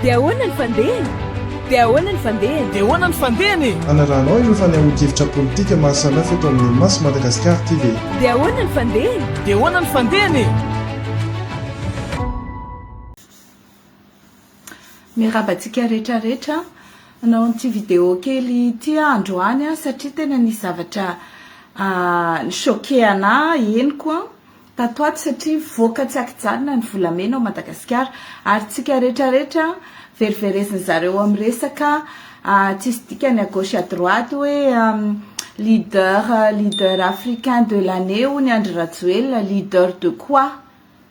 Dia ahoana ny fandehany? Dia ahoana ny fandehany? Dia ahoana ny fandehany e? Hanarahanao ireo fanehoan-kevitra politika maha samihafa eto amin'ny Maso Madagasikara TV. Dia ahoana ny fandehany? Dia ahoana ny fandehany e? Miarahaba antsika rehetra rehetra Nanao an'ity vidéo kely ity aho androany satria tena nisy zavatra ni-choquer anahy henoko tato ato satria voaka tsy an-kijanona ny volamena ao Madagasikara ary tsika rehetra rehetra veriverezin'ny zareo amin'ny resaka tsisy dikany à gauche à droite hoe leader leader africain de l'année hono i Andry Rajoelina, leader de quoi?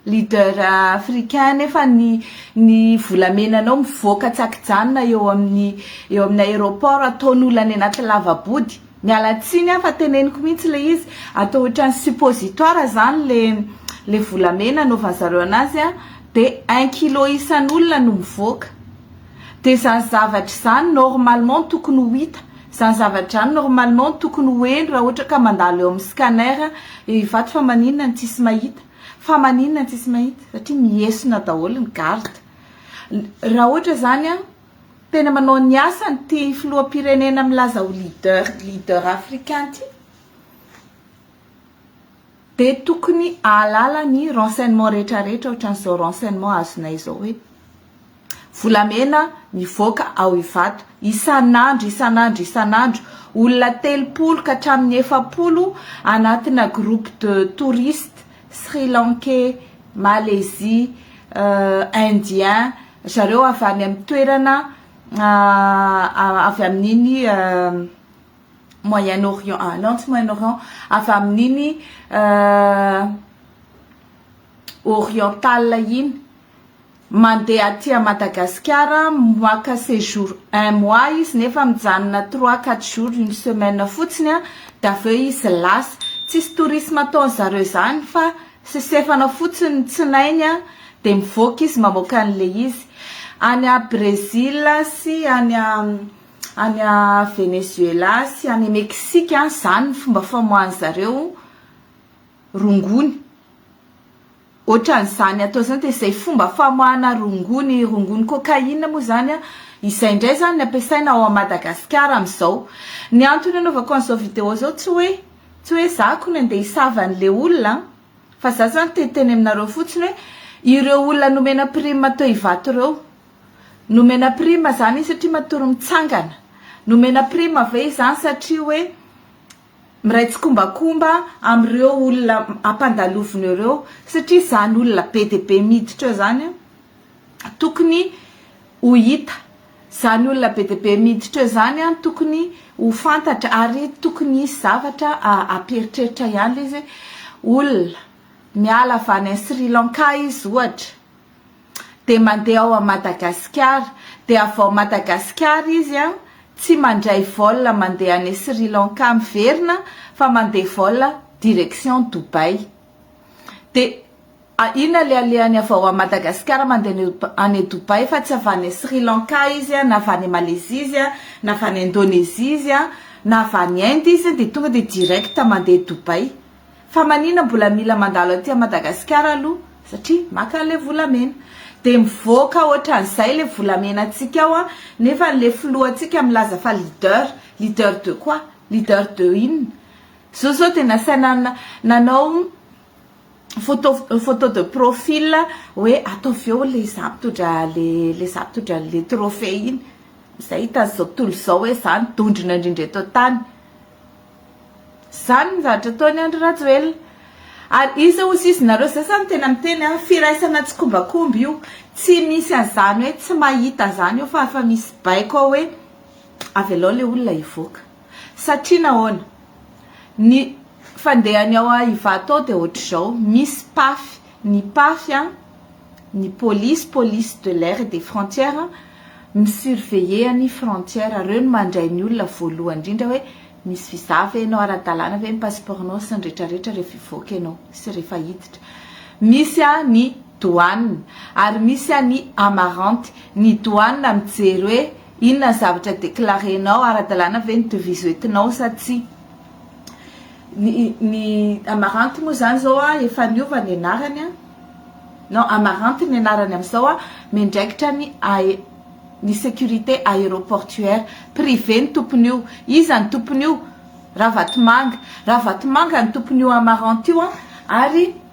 Leader africain nefa ny ny volamenanao mivoaka tsy akijanona eo amin'ny eo amin'ny aéroport ataon'olona any anaty lavabody miala tsiny aho fa teneniko mihitsy le izy atao ohatran'ny suppositoire zany le le volamena anaovan'ny zareo anazy a de un kilo isan'olona no mivoaka de zany zavatra izany normalement tokony ho hita zany zavatra izany normalement tokony ho heno raha ohatra ka mandalo eo amin'ny scanner ivato fa maninona no tsisy mahita fa maninona tsy sy mahita satria miesona daholo ny garde raha ohatra izany an tena manao ny asany ty filoham-pirenena milaza ho leader leader africain ty de tokony ahalala ny renseignement rehetra rehetra ohatran'izao renseignement azonay izao hoe volamena mivoaka ao Ivato isan'andro isan'andro isan'andro, olona telopolo ka hatramin'ny efapolo anatina groupe de touristes sri lankais, malaisie, indien, ry zareo avy any amin'ny toerana avy amin'iny moyen orient non tsy moyen orient avy amin'iny oriental iny. Mandeha aty à Madagasikara moaka séjour un mois izy nefa mijanona trois quatre jours une semaine fotsiny dia avy eo izy lasa. Tsisy tourisme ataony zareo izany fa sesefana fotsiny ny tsinainy dia mivoaka izy mamoaka an'ilay izy. Any à Brésil sy any à any à Venezuela sy any Mexique izany ny fomba famoahan'zareo rongony. Ohatran'izany atao izany dia izay fomba famoahana rongony, rongony cocaïne moa izany an, izay indray izany ny ampiasaina ao Madagasikara amin'izao. Ny antony anaovako an'izao vidéo izao tsy hoe tsy hoe izaho akory andeha hisava an'ilay olona an, fa izaho izany te hiteny aminareo fotsiny hoe ireo olona nomena prime teo Ivato ireo, nomena prime izany izy satria matory mitsangana, nomena prime ve izany satria hoe, Miray tsikombakomba amin'ireo olona ampandaloviny ireo satria izany olona be dia be miditra eo izany tokony ho hita, izany olona be dia be miditra eo izany tokony ho fantatra ary tokony hisy zavatra ampieritreritra ihany ilay izy hoe olona miala avy any Sri Lanka izy ohatra. dia mandeha ao Madagasikara dia avy ao Madagasikara izy an tsy mandray vol mandeha any Sri Lanka miverina fa mandeha vol direction Dubaï dia iny alehalehany avy ao Madagasikara mandeha any Dubaï fa tsy avy any Sri Lanka izy an na avy any Malaisie izy an na avy any Indonesie izy an na avy any Inde izy dia tonga dia direct mandeha Dubaï Fa manina mbola mila mandalo aty Madagascar aloha satria maka le volamena de mivoaka otran'izay le volamena antsika ao an nefa le filohantsika milaza fa leader leader de quoi leader de inona zo zao de nasaina nanao photo photo de profil hoe ataovy eo le za mitondra le le za mitondra le trophée iny zay hitan'izao tontolo izao hoe zany dondrona indrindra eto an-tany Izany ny zavatra ataony Andry Rajoelina. Ary iza hoy sisa nareo zay zany tena miteny a, firaisana tsikombakomba io, tsy misy an'izany hoe tsy mahita an'izany io fa efa misy baiko ao hoe avelao le olona hivoaka. Satria nahoana? Ny fandehany ao Ivato ao dia ohatr'izao, misy pafy, ny pafy a. ny polisy, police de l'air et des frontières, mi-surveiller ny frontière, reo no mandray ny olona voalohany indrindra hoe misy visa ve enao, ara-dalàna ve ny passeport nao sy ny rehetra rehetra rehefa hivoaka enao sy rehefa hiditra. Misy ny douane ary misy ny amaranty, ny douane mijery hoe inona ny zavatra declarer nao, ara-dalàna ve ny devise hoentinao sa tsia. Ny ny Amaranty moa zany zao a efa niova ny anarany a, non Amaranty ny anarany amzao a, miandraikitra ny ae ny sécurité aéroportuaire, privé ny tompon'io, iza ny tompon'io? Ravatomanga, Ravatomanga ny tompon'io Amaranty io a ary.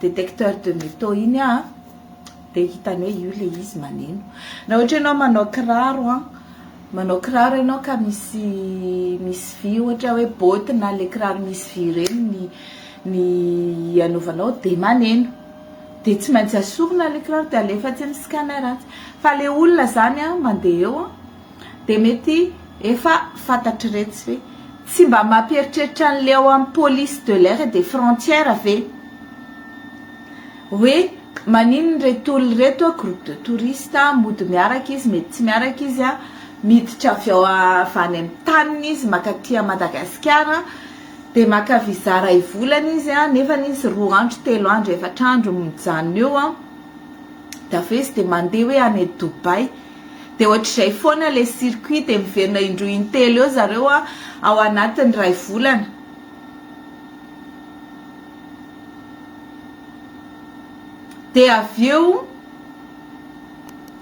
detecteur de meteau iny a dia hitany hoe io ilay izy maneno na ohatra ianao manao kiraro a manao kiraro ianao ka misy misy vy ohatra hoe botte na ilay kiraro misy vy ireny ny ny anaovanao dia maneno dia tsy maintsy asorina ilay kiraro dia alefa atsy amin'ny scanner atsy fa ilay olona izany a mandeha eo a Dia mety efa fantatr'iretsy ve? Tsy mba mampieritreritra an'ilay ao amin'ny police de l'air et des frontières ve? Hoe maninona ireto olona ireto an, groupe de touristes, mody miaraka izy, mety tsy miaraka izy an, miditra avy ao avy any amin'ny taniny izy mankaty à Madagasikara, dia maka visa iray volana izy an, nefany izy roa andro, telo andro, efatra andro mijanona eo an, dia avy eo izy dia mandeha hoe any Dubaï. Dia ohatr'izay foana ilay circuit dia miverina indroa intelo eo zareo ao anatin'ny iray volana. Dia avy eo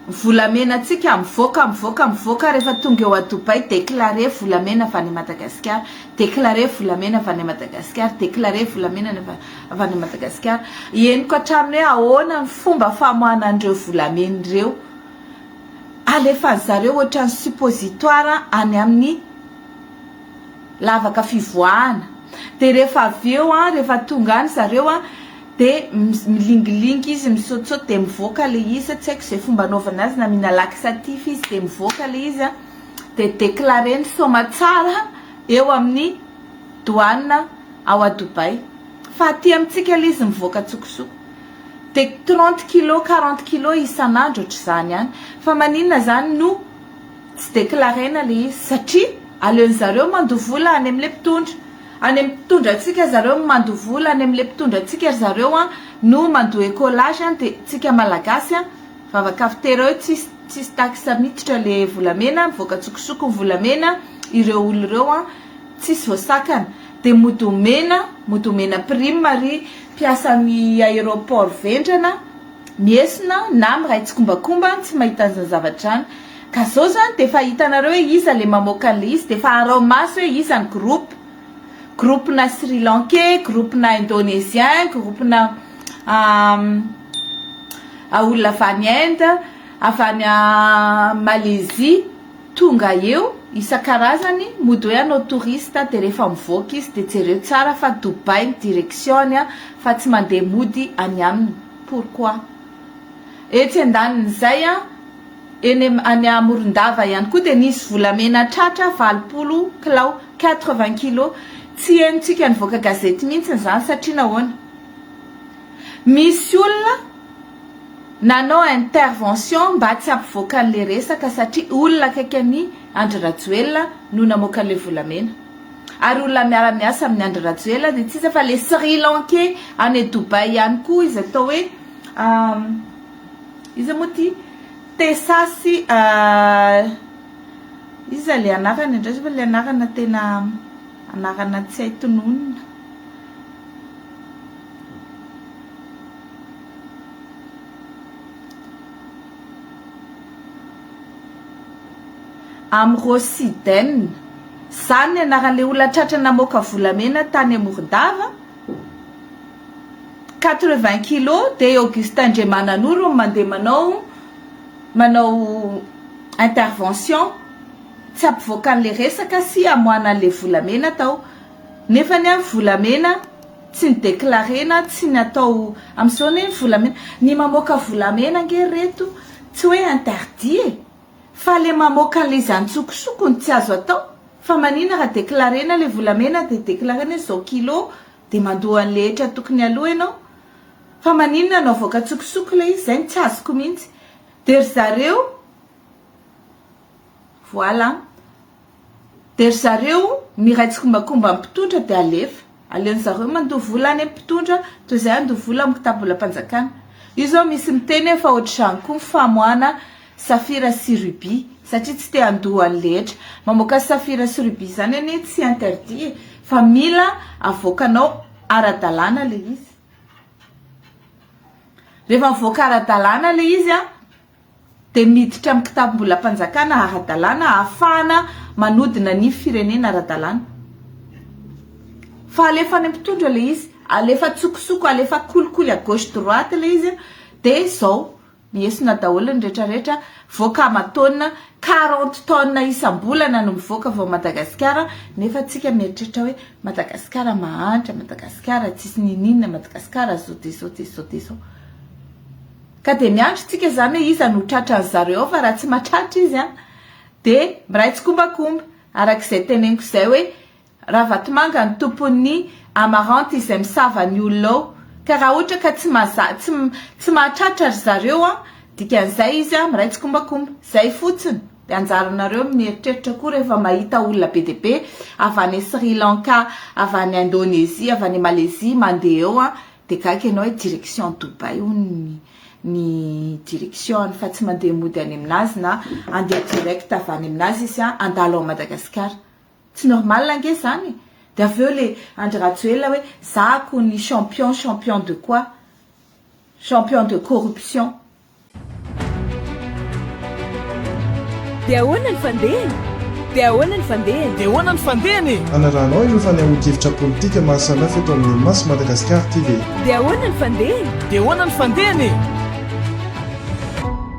volamenantsika mivoaka mivoaka mivoaka rehefa tonga eo à Dubaï déclaré volamena avy any Madagasikara, déclaré volamena avy any Madagasikara, déclaré volamena avy any Madagasikara. Henoko hatrany hoe ahoana ny fomba famoahana an'ireo volamena ireo. alefan'ny zareo ohatran'ny suppositoire any amin'ny lavaka fivoahana dia rehefa avy eo an rehefa tonga any zareo an dia milingilingy izy misaotisaoty dia mivoaka ilay izy tsy haiko izay fomba anaovana azy na mihinana laxatif izy dia mivoaka ilay izy an dia déclaré ny soamatsara eo amin'ny douane ao à Dubaï fa aty amintsika ilay izy mivoaka antsokosoko Dia trente kilos, quarante kilos isan'andro ohatr'izany any. Fa maninona izany no tsy declaraina ilay izy? Satria aleon'ny zareo mandoa vola any amin'ilay mpitondra. Any amin'ny mpitondra antsika ry zareo no mandoa vola, any amin'ilay mpitondra antsika ry zareo no mandoa ecolage, dia isika Malagasy vava kafitera eo tsisy tsisy taxe miditra ilay volamena, mivoaka antsokosoko ny volamena, ireo olona ireo. Tsisy voasakana dia mody omena mody omena prime ary mpiasan'ny aéroport vendrana miesona na miray tsikombakomba tsy mahita an'izany zavatra izany ka zao zany dia efa hitanareo hoe iza le mamoaka an'ilay izy dia efa arao maso hoe iza ny groupe groupe na sri lankais groupe na indonésien groupe na olona avy any inde avy any malaisie Tonga eo isan-karazany mody hoe anao touriste dia rehefa mivoaka izy dia jereo tsara fa Dubaï ny direction-ny an fa tsy mandeha mody any aminy pourquoi? Etsy andanin'izay an eny any à Morondava ihany koa dia nisy volamena tratra valopolo kilao, quatre vingt kilos, tsy henontsika nivoaka gazety mihitsy izany satria nahoana? Misy olona. Nanao intervention mba tsy hampivoaka an'le resaka satria olona akaiky an'i Andry Rajoelina no namoaka an'le volamena. Ary olona miara miasa amin'i Andry Rajoelina dia tsy iza fa le Sri Lankais any Dubaï ihany koa izy atao hoe iza moa ty? Tessa sy iza le anarany indray zao fa le anarana tena anarana tsy hay tononina. Amrosi Den, izany ny anaran'ilay olona tratra namoaka volamena tany Morondava, quatre-vingts kilos, dia i Augustin Andriamananoro no mandeha manao manao intervention tsy hampivoaka an'ilay resaka sy hamoahana an'ilay volamena tao. Nefa anie volamena tsy ny declare na tsy ny atao amin'izao anie ny volamena, ny mamoaka volamena ange ry reto tsy hoe interdit e! fa le mamoaka an'ilay izy antsokosoko no tsy azo atao, fa manina raha declare-na ilay volamena dia declare-na hoe izao kilo dia mandoa an'ilay hetra tokony aloa ianao, fa manina no avoaka antsokosoko ilay izy, izay no tsy azoko mihitsy, dia ry zareo voilà Dia ry zareo miray tsikombakomba amin'ny mpitondra dia alefa. Aleon'ny zareo mandoa vola any amin'ny mpitondra toy izay handoa vola amin'ny kitabolam-panjakana. Io izao misy miteny hoe fa ohatr'izany koa ny famoahana safira sy rubis satria tsy te handoa ny rehetra. Mamoaka safira sy rubis izany anie tsy interdit e! Fa mila avoakanao ara-dalàna ilay izy. Rehefa mivoaka ara-dalàna ilay izy an! dia miditra amin'ny kitabom-bolam-panjakana ara-dalàna ahafahana manodina ny firenena ara-dalàna. Fa alefa any amin'ny mpitondra ilay izy, alefa an-tsokosoko, alefa kolikoly à gauche droite ilay izy dia izao, mihesona daholo ny rehetrarehetra, voaka aman-taonina, quarante tonnes isam-bolana no mivoaka avy ao Madagasikara, nefa tsika mieritreritra hoe Madagasikara mahantra, Madagasikara tsisy niniana, Madagasikara izao dia izao dia izao dia izao. Ka dia miandry isika izany hoe iza no tratran'i zareo fa raha tsy mahatratra izy an! dia miray tsikombakomba araka izay teneniko izay hoe Ravatomanga no tompon'ny Amaranty izay misava ny olona ao ka raha ohatra ka tsy mahaza tsy tsy mahatratra ry zareo an! dikan'izay izy an! miray tsikombakomba. Izay fotsiny! dia anjaranareo ny mieritreritra koa rehefa mahita olona be dia be avy any Sri Lanka, avy any Indonesia, avy any Malezia mandeha eo an! Dia gaga ianao hoe direction any Dubaï hono ny direction-ny fa tsy mandeha mody any aminazy na handeha direct avy any aminazy izy fa handalo an'i Madagasikara. Tsy normal ange izany e! Dia avy eo ilay Andry Rajoelina hoe za akoho ny champion, champion de quoi? Champion de corruption. Dia ahoana ny fandehany? Dia ahoana ny fandehany? Dia ahoana ny fandehany e? Hanarahanao ireo fanehoan-kevitra politika maha samihafa eto amin'ny Mas Madagascar TV. Dia ahoana ny fandehany? Dia ahoana ny fandehany e?